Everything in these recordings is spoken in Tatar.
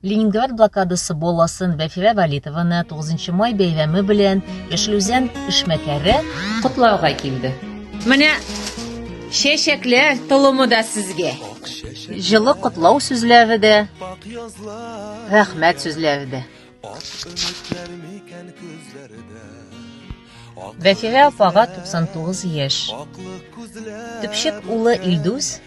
Ленинград блокадасы баласын Вәфирә Валитованы 9 май бәйрәме белән Яшел Үзән эшмәкәре котлауга килде. Менә чәчәкләр толымы да сезгә. Җылы котлау сүзләре дә, рәхмәт сүзләре дә. Вәфирә апага 99 яшь. Төпчек улы Илдус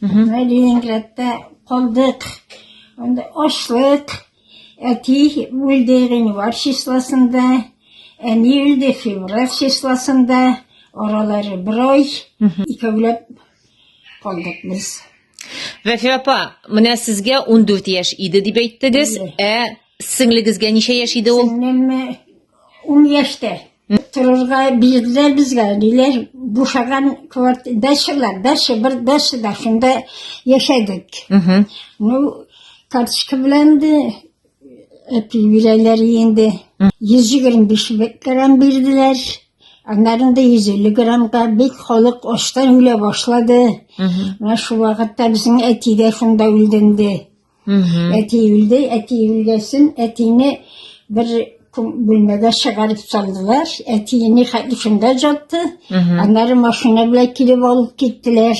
Мәдинәгрәттә калдык. Анда ачлык. Әти үлде гыйнвар числосында, әни үлде февраль числосында. Аралары бер ай. Икәүләп калдык без. Вәфия апа, менә сезгә 14 яшь иде дип әйттегез, ә сеңлегезгә ничә яшь иде ул? Сеңлемме Ун яшьтә торырга бирделәр безгә, диләр, бушаган квартира, дачалар, дача, бер дача да, шунда яшәдек. Ну, карточка белән дә әти бирәләр инде. 125 грамм бирделәр. Аннарын да 150 граммга бик халык аштан үлә башлады. Менә шул вакытта безнең әти дә шунда үлденде. Әти үлде, әти үлгәсен, әтине бер бүлмәгә чыгарып салдылар. Әтине хәтлифендә жатты. Аннары машина белән килеп алып киттеләр.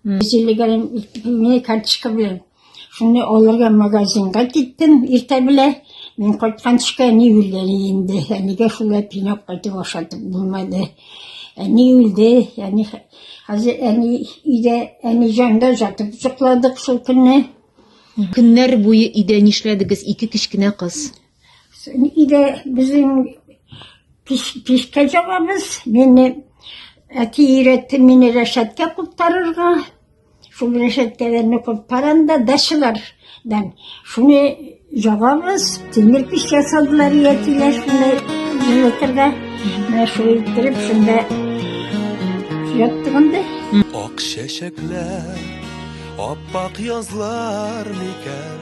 Зилегән мин карточка белән. Шуны алырга магазинга киттем иртә белән. Мин кайтканчыка әни үлгән инде. Әнигә шулай пинап кайтып ашатып булмады. Әни үлде, әни хәтлиф Хәзер әни өйдә, әни җанда жатып йокладык шул көнне. Көннәр буе өйдә нишләдегез, ике кечкенә кыз? Өйдә безнең пешкә җабабыз. Мине әти өйрәтте мине рәшәткә куптарырга. Шул рәшәткәләрне куптарам да дачалар. Дан шуны ягабыз, тимер пич ясадылар иятиләр шуны җылытырга. Менә шул иттереп шунда яттыгында. Ак чәчәкләр, аппак язлар микән?